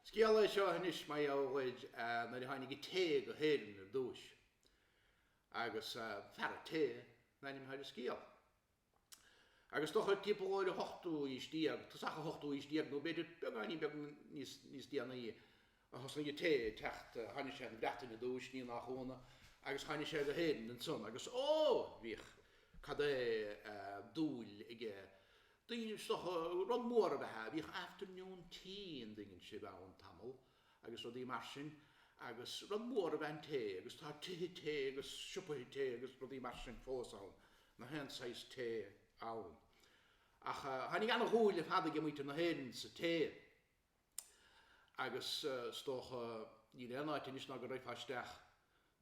Scéal é seo anois mar gheall ar nuair a tháinig an tae go hÉirinn ar dtúis agus fear an tae an ainm atá ar an scéal. Agus is dócha timpeall ar an hochtú aois déag, tosach an hochtú aois déag nó b'fhéidir beagáinín beag níos déanaí, a thosaigh an tae ag teacht, tháinig sé na Breataine ar dtúis, ní nach ionadh, agus tháinig sé go hÉirinn ansan agus ó! bhíodh cad é dúil aige, daoine, is dócha, rud mór ab ea é, bhíodh afternoon tea an dtuigeann sibh ann tamall agus rudaí mar sin agus rud mór ab ea an tae agus tá tithe tae agus siopaithe tae agus rudaí mar sin fós ann, nach aon saghas tae ann. Ach tháinig an-dhúil ar fad aige muintir na hÉireann sa tae. Agus is dócha, níl aon áit anois ná go raghfá isteach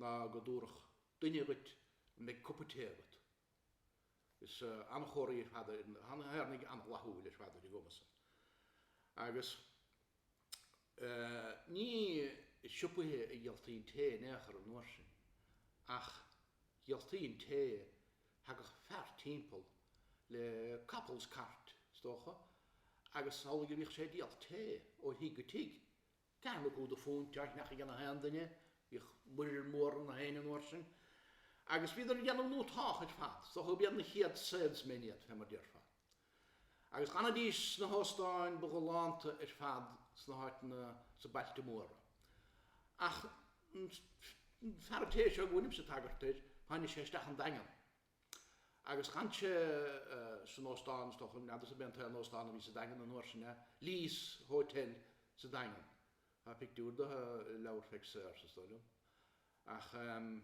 ná go dtabharfadh duine dhuit an mbeidh cupa tae agat. Is an-chóir iad ar fad na hÉireannaigh, an-fhlaithiúil ar fad ar an gcuma san. Agus eh ní i siopaithe a dhíoltaí an tae in aon chor an uair sin, ach dhíoltaí an tae, Thagadh fear timpeall le capall is cairt, is dócha, agus is amhlaidh a bhíodh sé ag díol tae ó thigh go tigh. An-chuid de phúint á cheannach aige nach aon duine, bhíodh muirear mór ar nach éinne an uair sin, agus bhíodar ag déanamh go hiontach ar fad, is dócha gurb iad na chéad salesmen iad, fé mar déarfá. Agus d'fhanaidís sna hóstáin ba ghalánta ar fad sna háiteanna sa bailte móra. Ach an fear tae seo go bhfuilimse ag tagairt air, tháinig sé isteach an Daingean. Agus d'fhan sé san óstán, is dócha, n'fheadarsa ab é an t-aon óstán a bhí sa Daingean an uair sin, eh? Lee's Hotel sa Daingean. Tá pictiúr de i leabhar Pheig Sayers, is dóigh liom. Ach ehm,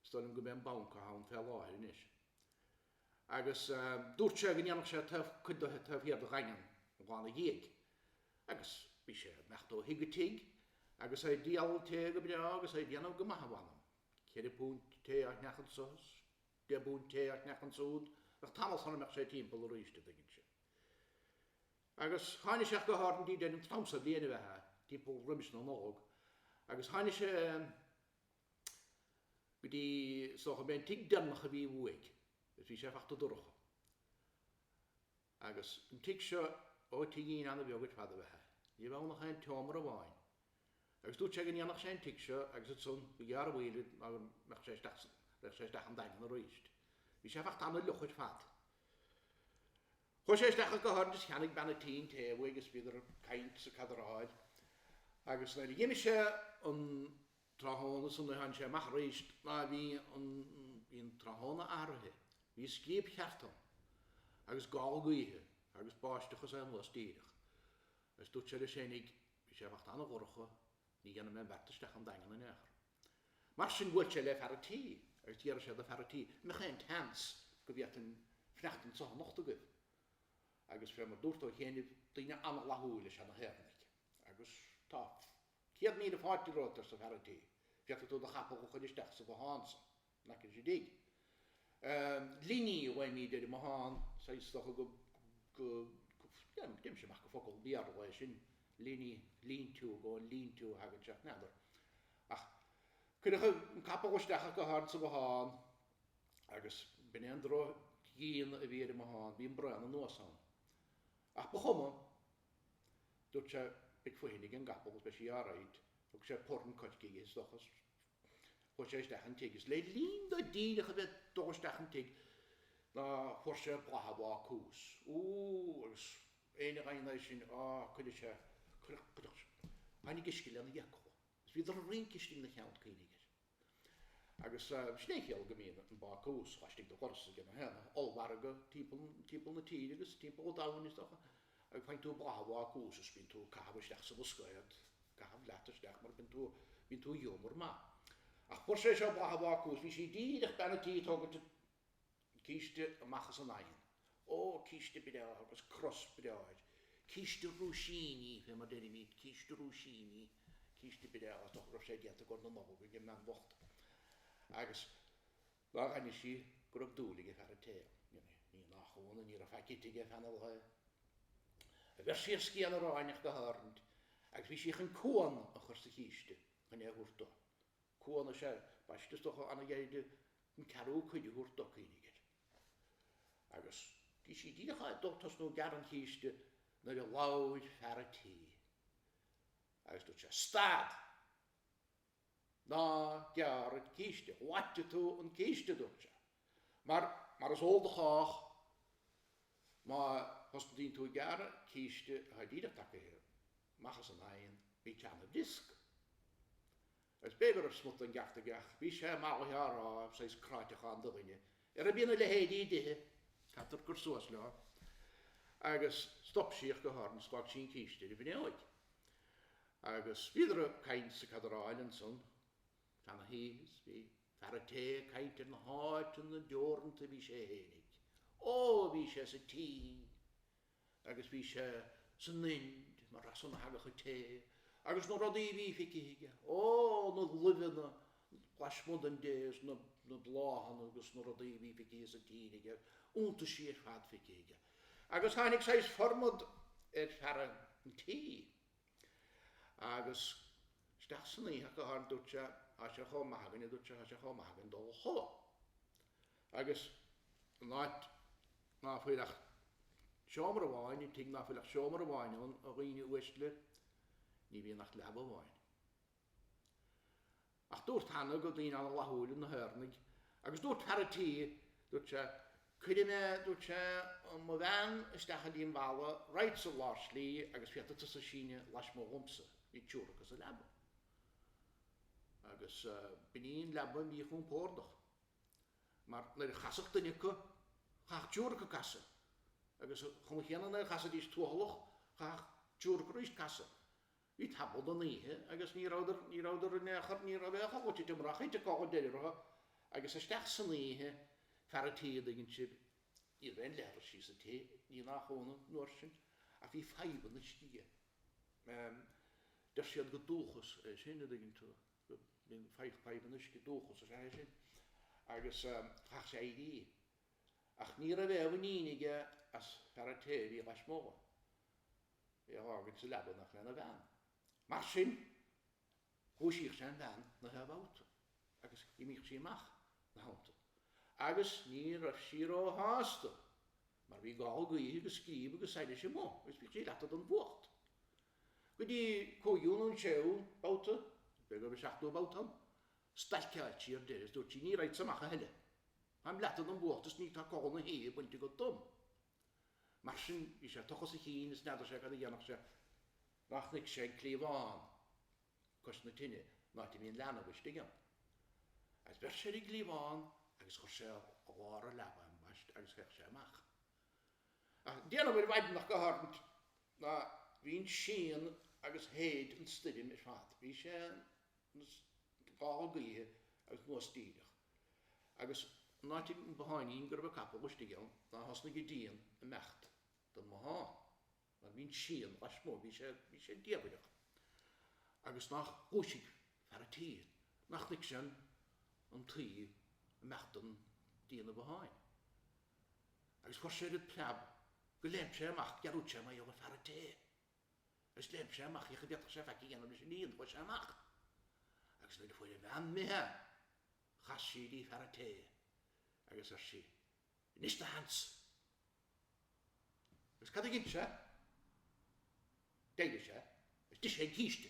is dóigh liom gurb é an banc atá ann fé láthair anois. agus dúirt sé go ndéanfadh sé taobh, cuid de taobh thiar de Dhaingean Uí Bháin a dhiaidh, agus bhí sé ag imeacht ó thigh go tigh agus é ag díol tae go breá agus é ag déanamh go maith a mh'anam, ceithre phunt tae á cheannach anso is deich bpunt tae á cheannach ansúd, bheadh tamall sara mbeadh sé timpeall aríst, a' dtuigeann sibh. Agus tháini' sé go háirithe go dtí, an t-am so bliana ab ea é timpeall roimis na Nollag, agus tháini' sé, go dtí, is dócha, gurb é an tigh deireanach a bhí uaidh, is bhí sé ag teacht dorcha. Agus an tigh seo, ó, tigín an-bheag ar fad ab ea é, ní raibh ann ach aon tseomra amháin, agus dúirt sé go ndéanfadh sé an tigh seo agus ansan gur ghearr an mhoill air mar go mbeadh sé isteach sa, bheadh sé isteach an Daingean aríst. Bhí sé ag teacht an-fhliuch ar fad. Chuaigh sé isteach go háirithe is cheannaigh bean an tí an tae uaidh is bhíodar ag caint is ag cadaráil agus nuair a dh'imigh sé an, Tráthnóna san oíche tháinig sé amach arís ná bhí an, bhí an tráthnóna athraithe, bhí scríob cheart ann agus gála gaoithe agus báisteach anuas díreach. Agus dúirt sé leis féinig, bhí sé ag imeacht an-dhorcha, ní dhéanfaidh mé an beart isteach an Daingean in aon chor. Mar sin bhuail sé le fear a' tí agus d'fhiafraigh sé do fear a' tí, an mbeadh aon tseans go bhféadfainn fanacht anseo anocht agaibh? Agus fé mar dúrt ó chianaibh, daoine an-fhlaithiúil is ea na hÉireannaigh. Agus tá. Céad míle fáilte romhat, arsa fear an tí. Féadfaidh tú do chapall a chuir isteach sa bhothán san. Nach é sin dtigh an liní a ghlaoimíd ar an mbothán san? Is dócha go, go, go, dhein sé amach gur focal Béarla é sin, liní, lean-to, gur ón lean-to a thagann sé, n'fheadar. Ach cuireadh an capall isteach ach go háirithe sa bhothán agus b'in é an drochdhíon a bhí ar an mbothán, bhí an braon anuas ann. Ach ba chuma. Dúirt sé, Beidh fothain ag an gcapall agus beidh sí alright. Thug sé punann coirce dhi is dócha is chuaigh sé isteach an tigh is le linn dó díreach a bheith dul isteach an tigh ná fuair sé boladh an bhácúis. Úúú agus éinne a gheobhadh é sin, á, cuireadh sé, cuireadh, cuireadh, tháinig uisce lena fhiacla is bhíodar ag rince istigh ina cheann, cuimhnigh air. Agus sin é an chiall go mbíonn an bácús laistigh de dhoras ag an ollmhargadh timpeall na tíre agus timpeall an domhain, is dócha. Faigheann tú boladh an bhácúis is bíonn tú ag caitheamh isteach sa bhascaed, caitheamh leat isteach mar bíonn tú, bíonn tú i ghiúmar maith. Ach fuair sé seo boladh an bhácúis, bhí sí díreach, bean a' tí, ag tógaint an. císte amach as an oigheann. Ó, císte breá agus cros breá air. Císte rúisíní, fé mar deirimíd, císte rúisíní, císte breá is dócha go raibh sé déanta i gcomhair na Nollag ag an mbean bhocht. Agus nuair a chonaic sí go raibh dúil aige fear a tae. Ní nach ionadh, ní raibh faic ite aige feadh na lae. Bheir sí ar scian aráin ach go háirithe agus bhí sí chun cuan a chur sa chíste chun é a thabhairt do. Cuan is ea ambaiste, is dócha an-ghairid don ceathrú cuid a thabhairt do, cuimhnigh air. Agus bhí sí díreach ag dul tosnú ag gearradh an chíste nuair a labhair fear a' tí agus dúirt sé, Stad! Ná gearr an císte, loitfidh tú an císte, dúirt sé, mar, mar is eol do chách, má thosnaíonn tú ag gearradh císte atá díreach tagtha amach as an oigheann, bíonn sé an-bhriosc. Is b'fhéidir go raibh smut den gceart aige, ach bhí sé i m'aghaidh á rá, saghas cráiteachán do dhuine ara, bíonn a leithéidí i dtithe, caithfear cur suas leo! Agus stop sí ach go háirithe is d'fhág sí an císte ar an bhfinióig. Agus bhíodar ag caint is ag cadaráil ansan, fan na hoíche, is bhí fear an tae ag caint ar na háiteanna deoranta a bhí sé fhéinig. Ó, bhí sé sa tSín! agus bhí sé sa nInd, mar as san a thagadh an tae agus na rudaí a bhí feicthe aige, ó, na luibheanna lasmuigh den dtae is na, na bláthanna agus na rudaí a bhí feicthe sa tír aige, iontaisí ar fad feicthe aige. Agus tháinig saghas formad ar fear an tí agus isteach san oíche ach go háirithe, dúirt sé, tá sé chomh maith againn, a dúirt sé, tá sé chomh maith againn dul a chodladh. Agus an áit ná fuil ach seomra amháin, an tigh ná fuil ach seomra amháin ann, a dhaoine uaisle, ní bhíonn ach leaba amháin. Ach dúrt cheana gur daoine an-fhlaithiúla iad na hÉireannaigh, agus dúirt fear a' tí, dúirt sé, Cuirfidh mé, dúirt sé, mo bhean isteach go dtí an bhfalla, raghadsa i lár slí agus féadfaidh tusa síneadh laismuigh dhomsa, bhí triúr acu sa leaba. Agus b'in í an leaba mhíchompordach. mar nuair a chasfadh duine acu, chaithfeadh triúr acu casadh, agus an chuma chéanna nuair a chasfaidís tuathalach, chaithfeadh triúr acu arís casadh. Bhí tamall den oíche agus ní rabhadar, ní rabhadar in aon chor, ní raibh aon chor loite de murach thit an codladh ar deireadh orthu agus isteach san oíche, fear an tí an dtuigeann sibh, ní raibh aon leithreas sa tigh, ní nach ionadh, an uair sin, ach bhí fadhb an uisce aige, deir siad gur dúchas é sin, an dtuigeann tú. go mbíonn fadhb an uisce, dúchas is ea é sin agus chaith sé éirí ach ní raibh aon mhuinín aige as fear an tae a bhí lasmuigh é a fhágaint sa leaba in éineacht lena bhean. Mar sin dhúisíodh sé an bhean gach aon bhabhta agus d'imíodh sí amach ina theannta agus ní raibh sí ró shásta mar bhí gála gaoithe agus scríb agus soilse amuigh agus bhíodh sí leata don bhfuacht. Go dtí an cúigiú nó an séú babhta, b'fhéidir go raibh an seachtú babhta ann, stailceáil sí ar deireadh is dúirt sí, 'Ní raghadsa amach a thuilleadh. Táim leata den bhfuacht is ní tá codladh na hoíche bainte agat díom. Mar sin, bhí sé ag tochas a chinn is n'fheadar sé cad a dhéanfadh sé ná chonaic sé an cliabhán cois na tine, an áit a mbíonn leanbh istigh ann. Agus bheir sé ar an gcliabhán agus chuir sé i lár na leaba é ambaist agus theich sé amach. Ag déanamh ar mhaidin ach go háirithe ná bhí an síon agus shéid an stoirm ar fad. Bhí sé ina ghála gaoithe agus anuas díreach, agus an áit, an botháinín go raibh an capall istigh ann, ná thosnaigh an díon ag imeacht den bhothán. mar bhí an síon lasmuigh, bhí sé, bhí sé diamhaireach, agus nách dhúisigh fear a' tí, ná chonaic sé an, an tuí ag imeacht de dhíon an bhotháin. Agus fuair sé oiread preab go léim sé amach, dhearúid sé mar gheall ar fear a' tae, agus léim sé amach, féach a' bhféadfadh sé faic a dhéanamh leis an ndíon, chuaigh sé amach, agus nuair a fuair a bhean imithe é, chas sí dtí fear a' tae, agus ar sí, Inis do Hans. Agus cad a dhein sé? D'éirigh sé is d'ith sé an císte.